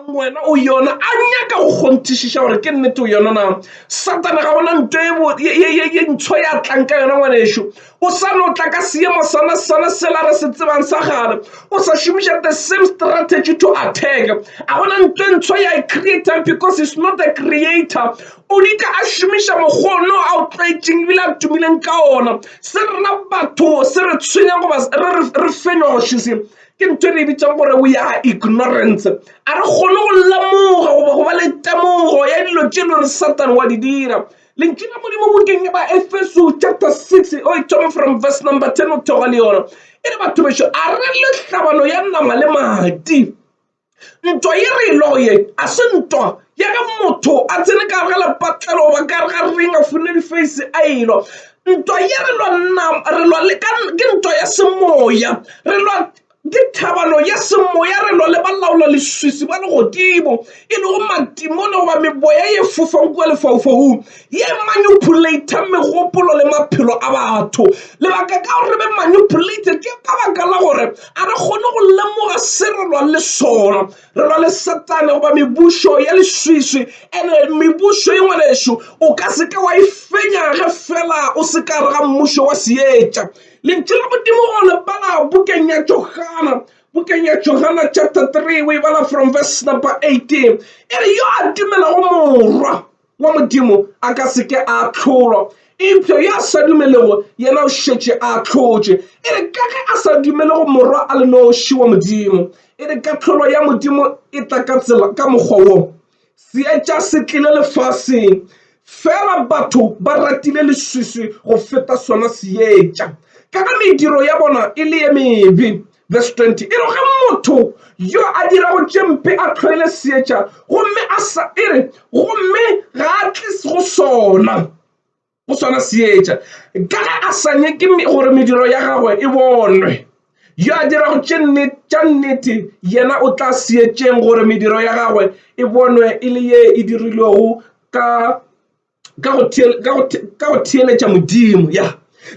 wena o yona a nyaka go kgonthišiša gore ke nnete o yona na satana ga bona nto ye ntsho ya tlang ka yona ngwanešo o sa no tla ka seemo sana sana sela re se tsebang sa gale o sa šomiša the same strategy to attack a gona nto e ntsho ya e creator because it's not the creator o dika a šomiša mokgono a o tlwaetseng ebile a tumileng ka ona se rena batho se re tshwenya goba re fenywa go šise Ke ntho e re e bitsang gore we are ignorance. A re kgone go lemoga goba go ba le temogo ya dilo tše le gore Satan wa di dira. Lentšu la Modimo bukeng ya Baefeso chapter 6 o e thome from verse number 10 o theoga le yona e re, Batho bešo, a re le tlhabano ya nama le madi. Ntwa ye re e lego ye a se ntwa ya ge motho a tsene ka gare ga lepatlelo goba ka gare ga ring a fune difeisi a elo ntwa ye re lwanna re lwa le ke ntwa ya semoya re lwa ke thabano ya semoya re lwa le ba laola leswiswi ba legodimo e lego matimo le goba meboya ye fofang kua lefaufaung ye e manipulator megopolo le maphelo a batho. Lebaka ka gore re be manipulated ke ka baka la gore a re kgone go lemoga se re lwang le sona. Re lwa le Satane goba mebušo ya leswiswi, and-e mebušo ye ngwanešu o ka se ke wa e fenya ge fela o se ka gare ga mmušo wa seetša. Lentšu la Modimo o le bala bukeng ya Johana, bukeng ya Johana chapter 3 o e bala from verse number 18 e re yo a atumelago Morwa, wa Modimo a ka se ke a ahlolwa, eupša yo a sa dumelego yena o šetše a ahlotše, e re ka ge a sa dumele go Morwa a le noši wa Modimo. E re kahlolo ya Modimo e tla ka tsela ka mokgwa wo, Seetša se tlile lefaseng, feela batho ba ratile leswiswi go feta sona Seetša, ka ge mediro ya bona e le ye mebe. Verse 20 e re ge motho yo a dirago tše mpe a tlhoele seetša gomme a sa e re gomme ga a tle go sona go sona seetša ka ge a sa nyeke gore mediro ya gagwe e bonwe yo a dirago tše tša nnete yena o tla seetšeng gore mediro ya gagwe e bonwe e le ye e dirilwego ka ka go theeletša Modimo ya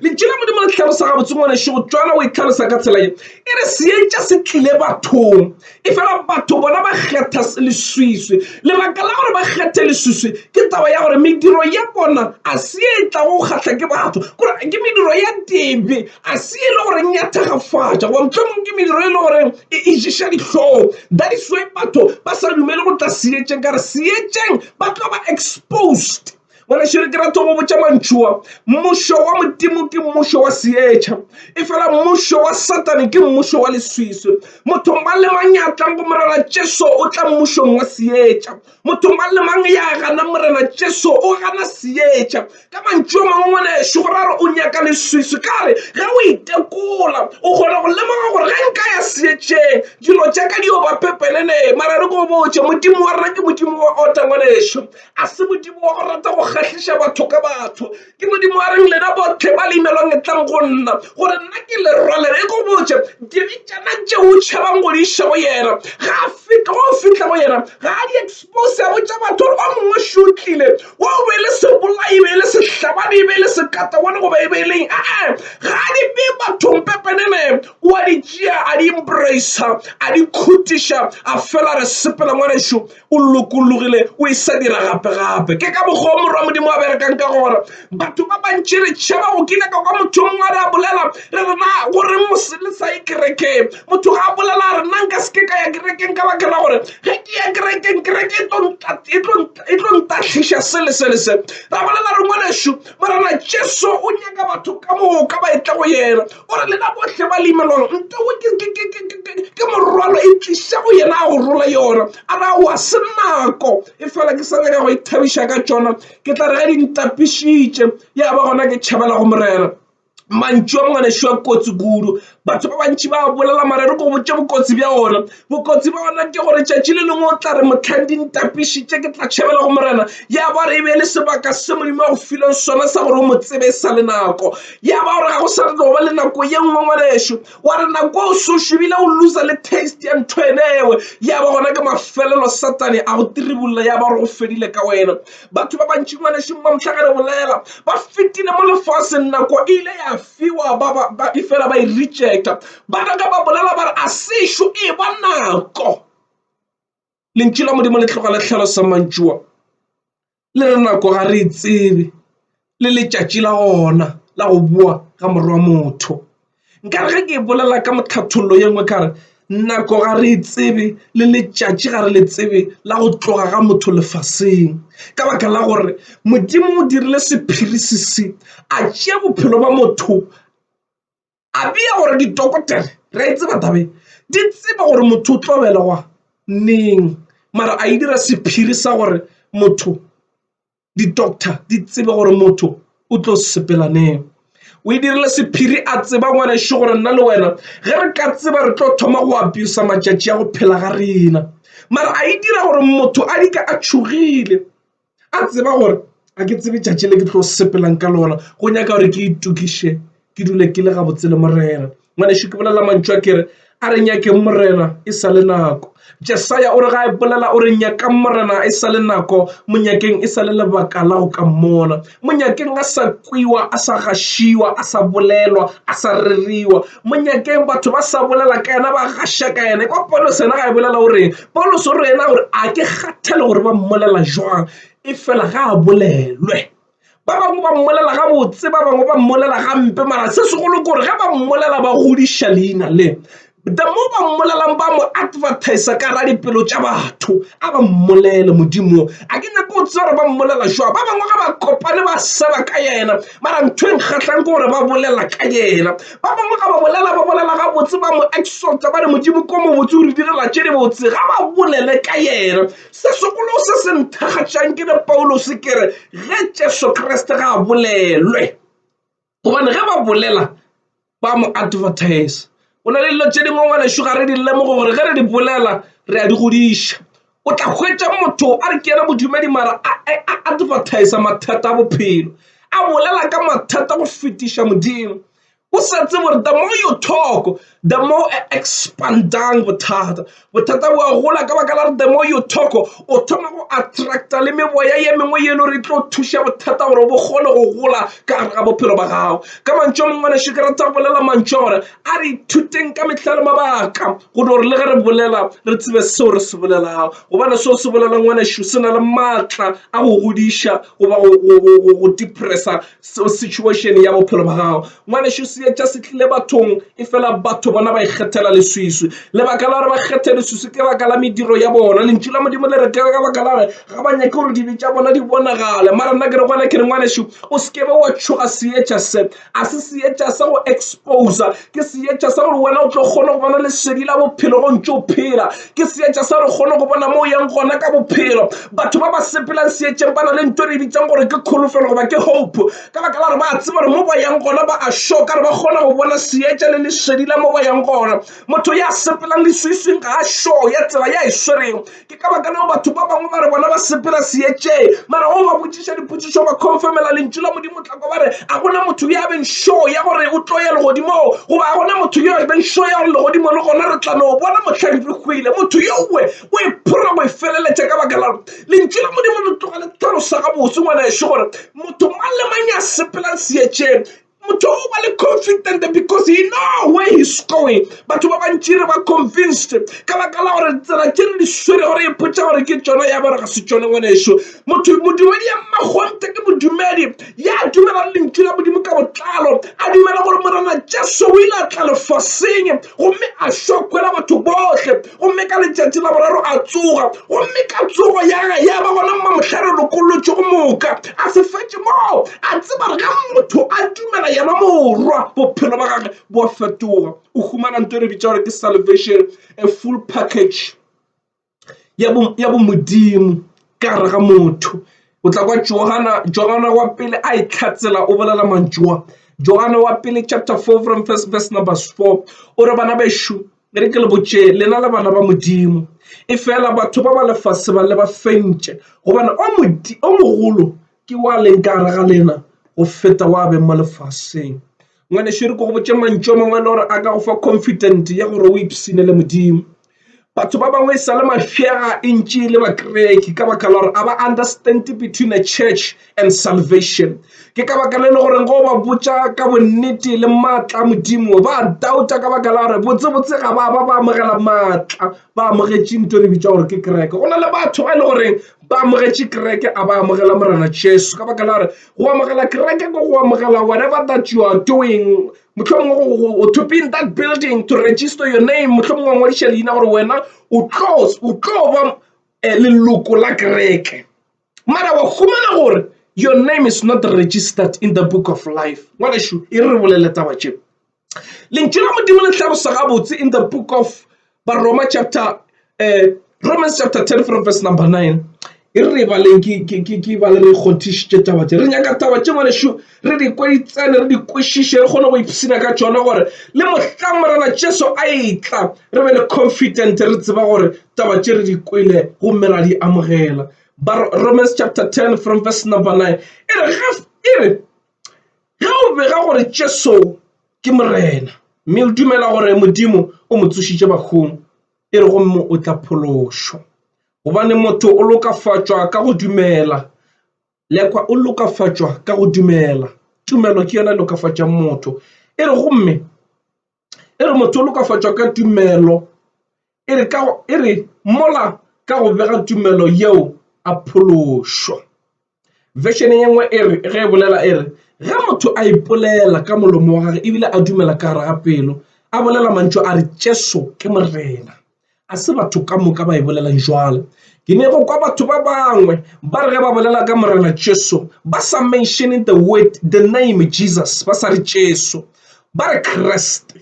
lentšu la Modimo le tlhalosa gabotse ngwaneso go tswana o e tlhalosa ka tsela ye e re seetša se tlile bathong e fela batho bona ba kgetha leswiswi lebaka la gore ba kgethe leswiswi ke taba ya gore mediro ya bona a se e tla go kgatlha ke batho gore ke mediro ya tebe a se e le goreng ya thagafatša go motlhomong ke mediro e le goreng e išiša dihlong that is why batho ba sa dumele go tla seetšeng ka re seetšeng ba tlo ba exposed. Ngwanešu ke rata go botša mantšu wa, mmušo wa Modimo ke mmušo wa seetša, efela mmušo wa Satane ke mmušo wa leswiswi. Motho mang le mang ya tlang go Morena Jesu o tla mmušong wa seetša. Motho mang le mang ya gana Morena Jesu o gana seetša. Ka mantšu a mangwe, ngwanešu, go ra gore o nyaka leswiswi. Ka re ge o itekola, o kgona go lemoga gore ge nka ya seetšeng, dilo tša ka di yo ba pepenene. Mara re ko botše, Modimo wa rena ke Modimo wa ota, ngwanešu. A se Modimo wa go rata go kgahliša batho ka batho. Ke Modimo wa reng, Lena bohle ba le imelwang etlang go nna, gore nna ke le rwalele. E ko botše, Dibetšana tše o tšhabang go di iša go yena, ga a fihle, ge o fihla go yena, ga a di. Mose a botša batho gore ba mongwe šo o tlile, wo o be e le sebolai, e be e le sehlabani, e be e le sekatagone goba e be e leng, ee, ga a di bee bathong pepenene, o a di tšea a di embracea, a di khutiša, a fela re sepela ngwanešu, o lokologile, o e sa dira gape-gape. Ke ka mokgwa wo Morwa Modimo a berekang ka gona. Batho ba bantši re tšhaba go kile ka kwa motho mongwe a re a bolela re rena gore mose le sa ye kerekeng motho ga a bolela a re nna nka seke ka ya kerekeng ka bakela gore ge ke ya kerekeng kereke e tlo e e tlo ntahliša se le se le se ra bolela re ngwanešu morena jesu o nyaka batho ka moo ka ba etla go yena o re lena bohle ba leimelwang ntewe ke morwalo e tliša go yena a go rola yona a ra wa se nako e fela ke sa nyaka go ithabiša ka tšona ke tla re ge di ntapišitše ya ba gona ke tšhabela go morena mantšu a mangwanešu a kotsi kudu batho ba bantši ba bolela marero ko botse bokotsi bja ona bokotsi ba ona ke gore tšatši le lengwe o tla re motlhang di ntapišitše ke tla tšhabela go morena ya ba re e be le sebaka se modimo a go fileng sona sa gore o mo tsebe e sa le nako ya ba gore ga go sa tlo ba le nako ye nngwe ngwanešu wa re nako o sošobile o losa le taste ya ntho enewe ya ba gona ke mafelelo satane a go tiribulla ya ba gore go fedile ka wena batho ba bantši ngwanešeng ba mohlagare bolela ba fetile mo lefaseng nako e ile ya fiwa ba e fela ba e rejecta ba naka ba bolela ba re a sešo e ba nako lentši la modimo le tloga le tlhalosa mantšua le re nako ga re e tsebe le letšatši la gona la go boa ga morwa motho nkare ge ke bolela ka mokhathololo ye nngwe ka re nako ga re e tsebe le letšatši ga re le tsebe la go tloga ga motho lefaseng ka baka la gore modimo o dirile sephiri se se a tšea bophelo ba motho a bea gore ditokotere re a itseba taba e di tseba gore motho o tlo belegwa neng mara a e dira sephiri sa gore motho di-doctor di tsebe gore motho o tlo sepela neng o e dirile sephiri a tseba ngwaneso gore nna le wena ge re ka tseba re tlo thoma go apiosa matšatši a go phela ga rena mara a e dira gore motho a dika a tšhogile a tseba gore a ke tsebe tšatši le ke tlo sepelang ka lona go nyaka gore ke itokiše ke dule ke le gabotse le morena ngwanešu ke bolela mantšu a kere a re nyakeng morena e sa le nako jesaya o re ga e bolela o re nyakang morena e sa le nako monyakeng e sa le lebaka la go ka mmona monyakeng a sa kwiwa a sa gašiwa a sa bolelwa a sa reriwa monyakeng batho ba sa bolela ka yena ba gaša ka yena kwa polo sena ga e bolela o reng Paulus o re yena gore a ke kgathale gore ba mmolela jwang e fela ga a bolelwe ba bangwe ba mmolela ga botse ba bangwe ba mmolela gampe mara se segolo kore ge ba mmolela ba godiša leina le the mo ba mmolelang ba mo advertise ka ra dipelo tša batho a ba mmolele modimo a ke nyako o tse gore ba mmolela jwa ba bangwe ga ba kopane ba seba ka yena mara ntho e nkgatlhang ke gore ba bolela ka yena Ba bangwe ga ba bolela, ba bolela gabotse, ba mo exalta, ba re Modimo ko mobotse o re direla tše dibotse. Ga ba bolele ka yena. Se segolo se se nthakgatšang ke le Paulose ke re ge Jesu Kriste ga a bolelwe, gobane ge ba bolela ba mo advertise. Go na le dilo tše dingwe ngwanešu ga re di lemoge gore ge re di bolela re a di godiša. o tla hwetša motho a re ke yena modumedi mara a advertisa mathata a bophelo a bolela ka mathata go fetiša modimo o sa tsebe gore the more you talk the more e expandang bothata bothata bo a gola ka baka la re the more you talk o thoma go attracta le meboya ye mengwe ye e le gore e tlo thuša bothata gore bo kgone go gola ka gare ga bophelo ba gago ka mantšu a mangwe ngwaneso ke rata go bolela mantšu a gore A re ithuteng ka mehla le mabaka gone gore le ge re bolela re tsebe seo re se bolelago, gobane seo se bolelwa ngwanešu se na le maatla a go godiša goba go depressa situation ya bophelo ba gago. Ngwanešu, seetša se tlile bathong efela batho bona ba ikgethela leswiswi. Lebaka la gore ba kgethe leswiswi ke baka la mediro ya bona. Lentšu la Modimo le re ke ka baka la gore ga ba nyake gore dibe tša bona di bonagale. Mara nna ke re go wena ke re, ngwanešu, o se ke be wa tšhoga seetša se. A se seetša sa go exposa. Ke seetša sa gore wena o tlo kgone go bona lesedi la bophelo go ntše o phela. Ke seetša sa gore o kgone go bona mo o yang gona ka bophelo. Batho ba ba sepelang seetšeng ba na le nto e re bitsang gore ke kholofelo goba ke hope, ka baka la gore ba a tseba gore mo ba yang gona ba a sure ka gore ba kgona go bona seetša le lesedi la mo ba yang gona. Motho ya sepelang leswiswing ga a sure ya tsela ya e swerego. ke ka baka leo batho ba bangwe ba re bona ba sepela seetšeng mara o ba botšiša dipotšišo ba confirmela lentšu la modimo tlako ba re a gona motho yo a beng show ya gore o tlo ya legodimong goba a gona motho yo a beng show ya gore legodimo le gona re tla no bona motlhang re hwile motho yowe o e phora go e feleletša ka baka la lentšu la modimo le tloga le tlhalosa gabotse ngwana ešo gore motho mang le mang ya sepelang seetšeng motho o ba le confident because he know where he's going batho ba bantši re ba convinced ka baka la gore tsela tše re di swere gore e potsa gore ke tsona ya gore ga se tsone ngwaneso motho modumedi ya mmakgonte ke modumedi ya dumelang lentšu la modimo ka botlalo a dumela gore morena jesu o ile a tla lefaseng gomme a šwakwela batho bohle gomme ka letšatši la boraro a tsoga gomme ka tsogo ya ga ya ba gona mamohlare lokolotšo go moka a se fetše moo a tseba re ga motho a dumela yena morwa bophelo ba gage bo a fetoga o humana nto e re bitša gore ke salvation a full package ya bo modimo ka gare ga motho o tla kwa jogana wa pele a e tlhatsela o bolela mantšoa jogana wa pele chapter four from first verse number four o re bana bešo e re ke le botše lena le bana ba modimo e fela batho ba ba lefase ba le ba fentše gobane o mogolo ke wa leng ka gare ga lena go feta wa beng mo lefaseng. Ngwanešu re ko go botše mantšu a mangwe a le gore a ka go fa confident ya gore o ipsine le Modimo. Batho ba bangwe e sa le mafega e ntši le bakereki ka baka la gore a ba understand between a church and salvation. Ke ka baka le le goreng go ba botša ka bonnete le maatla a Modimo ba doubta ka baka la gore botsebotse ga ba ba ba amogela maatla ba amogetše nto re bitša gore ke kereke. Go na le batho ba e le goreng ba amogetše kereke a ba amogela Morena Jesu ka baka la gore Go amogela kereke ke go amogela whatever that you are doing. Mohlomongwe to be in that building, to register your name, mohlomongwe wa ngwadiša leina gore wena o tlo ba eh, leloko la kereke. Mara wa humana gore your name is not registered in the book of life. Ngwanešu, e re bolele taba tšeo. lentšu la modimo le tlhalosa gabotse in the book of baroma chapter uh, romans chapter 10 from verse number 9 e re baleng ke ba le re kgonthišitše taba tše re nyaka taba tše ngwanešu re di kweditsene re di kwešiše re kgone go ipshina ka tšona gore le mohlang morena jesu a etla re be le confident re tseba gore taba tše re di kwele gomme ra di amogela romans chapter 10 from verse number 9 e re Ge o bega gore Jesu ke Morena mme o dumela gore Modimo o mo tsošitše bahung, e re gomme o tla phološwa. Gobane motho o lokafatšwa ka go dumela. Lekwa o lokafatšwa ka go dumela. Tumelo ke yona e lokafatšang motho, e re gomme e re motho o lokafatšwa ka tumelo e re ka e re mola ka go bega tumelo yeo a phološwa version ye nngwe e re ge e bolela e re ge motho a ipolela ka molomo wa gagwe ebile a dumela ka gare ga pelo a bolela mantšu a re tšeso ke morena A se batho ka moka ba e bolelang jwalo. Ke ne go kwa batho ba bangwe ba re ge ba bolela ka Morena Jesu ba sa mentioning the word the name Jesus ba sa re Jesu ba re Kriste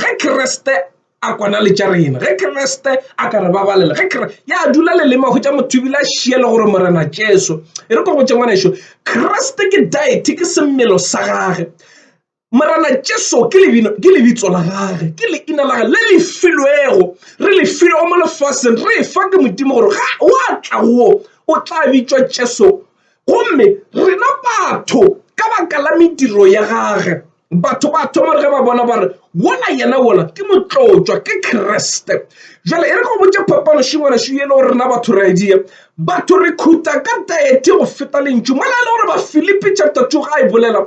ge Kriste a kwana le tša rena ge Kriste a ka re babalela ge Kriste ya dula lelema go tša motho ebile a šie le gore Morena Jesu e re ko go tšengwaneso Kriste ke deity ke semelo sa gage Morena Jesu ke lebino, ke lebitso la gage, ke leina la gage le le filwego, re le filwego mo lefaseng, re efa ke Modimo gore ga wa tla go o tla bitšwa Jesu. Gomme rena batho ka baka la mediro ya gage, batho ba thoma gore ge ba bona ba re, Wola yena wola ke motlotšwa, ke Kriste. Bjale e re ke go botše phapanoši ngwanašo ye e le gore rena batho re a e dia. Batho re khutha ka diety go feta lentšu. Mola e le gore Bafilipi chapter 2 ga e bolela,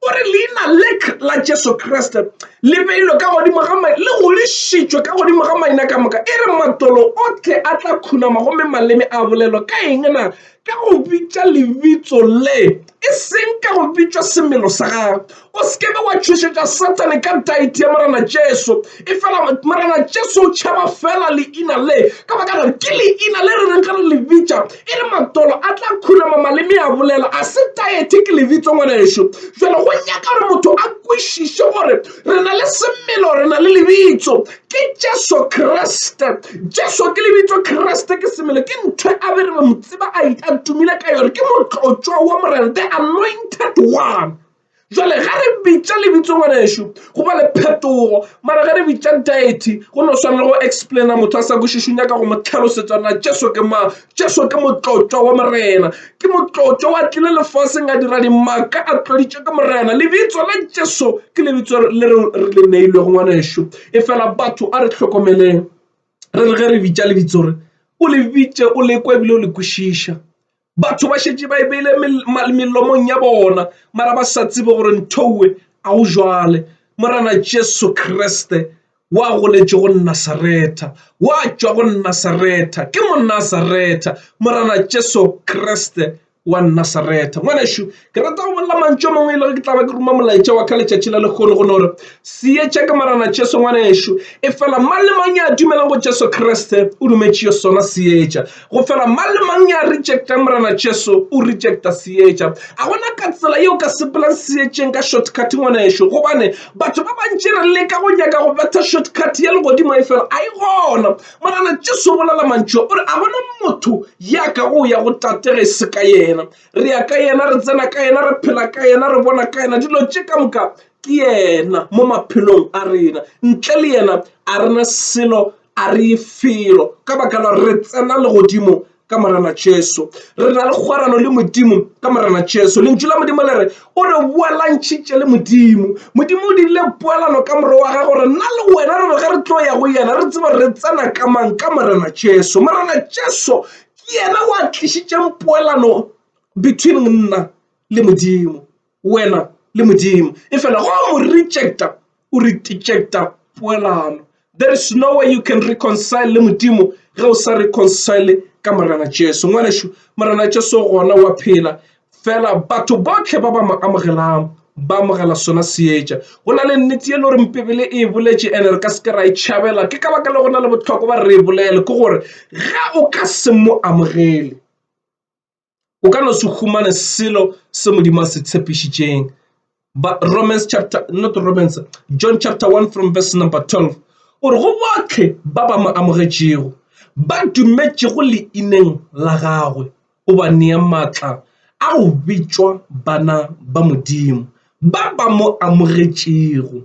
o re leina lek la jesu kriste le beilwe ka godimo ga mai le godišitšwe ka godimo ga maina ka moka e re matolo otlhe a tla khunama gomme maleme a bolelo ka eng na ka go bitša lebitso le e seng ka go bitšwa semelo sa gago o sekebe wa tšhošetša sathane ka dite ya morena jesu e fela morena jesu o tšhaba fela leina le ka baka gore ke leina le re reng ge re le bitša E re matolo a tla khurama maleme a bolela a se taete ke lebitso ngwanaešo. Jalo go nyaka gore motho a kwešiše gore re na le semelo, re na le lebitso ke Jesu Kriste. Jesu ke lebitso, Kriste ke semelo, ke ntho a be re be motseba a tumile ka yone ke motlotšwa wa Morena, the anointed one. Jwale ge re bitša lebitso ngwanešu go ba le phetogo, mara ge re bitša deity go no swana le go explaina motho a sa kwešiše, o nyaka go mo tlhalosetša na Jesu ke mang. Jesu ke Motlotšwa wa Morena, ke Motlotšwa wa tlile lefaseng a dira dimaka a tloditšwe ke Morena. Lebitso la Jesu ke lebitso le re le neilwego ngwanešu, efela batho a re hlokomeleng re re ge re bitša lebitso re o le bitše o le kwa ebile o le kwešiša. batho ba šetše ba e beile melomong ya bona mara ba sa tsebe gore nthowe a o jwale morena jesu kriste wa goletše go nasaretha wa tšwa go nasaretha ke monasaretha morena jesu kriste wa nasaretha ngwanešu ke rata go bolela mantšu a mangwe e lego ke tla ba ke ruma molaetša wa ka letšatši la lekgono go no re seetša ka marana jesu ngwanešu e fela mang le mang ya dumelang go jesu kriste o dumetšeo sona seetša go fela mang le mang ya rejectang morana jesu o rejecta seetša a gona ka tsela yeo ka sepelang seetšeng ka shortcut ngwanešu gobane batho ba bantši re leka go nyaka go betha shortcut ya legodimo e fela a e gona morana jesu o bolela mantšu o re a gona motho ya ka go ya go tatege e se ka yena re ya ka yena re tsena ka yena re phela ka yena re bona ka yena dilo tše ka moka ke yena mo maphelong a rena ntle le yena a re na selo a re ye felo ka baka la re tsena legodimo ka morena jesu re na le kgwarano le modimo ka morena jesu lentšu la modimo le re o re boalantšhitše le modimo modimo o dirile poelano ka more wa gago re nna le wena re re ge re tlo ya go yena re tseba re tsena ka mang ka morena jesu morena jesu ke yena wa tlišitšeng poelano between monna le modimo wena le modimo e fela go mo rejecta o re rejecta poelano there is no way you can reconcile le modimo ge o sa reconcile ka morena jesu ngwanešu morena jesu gona wa phela fela batho bohle ba ba mo amogelang ba amogela sona seetša go na le nnete ye le gore mpebele e boletše ene re ka se ke ra e tšhabela ke ka baka le go na le botlhokwa ba re e bolele ke gore ge o ka se mo amogele o ka no se humane selo se modimo a se tshepišitšeng But Romans chapter, not Romans, John chapter 1 from verse number 12. O re go botlhe ba ba mo amogetšego ba dumetšego leineng la gagwe o ba nea maatla a go bitšwa bana ba modimo ba ba mo amogetšego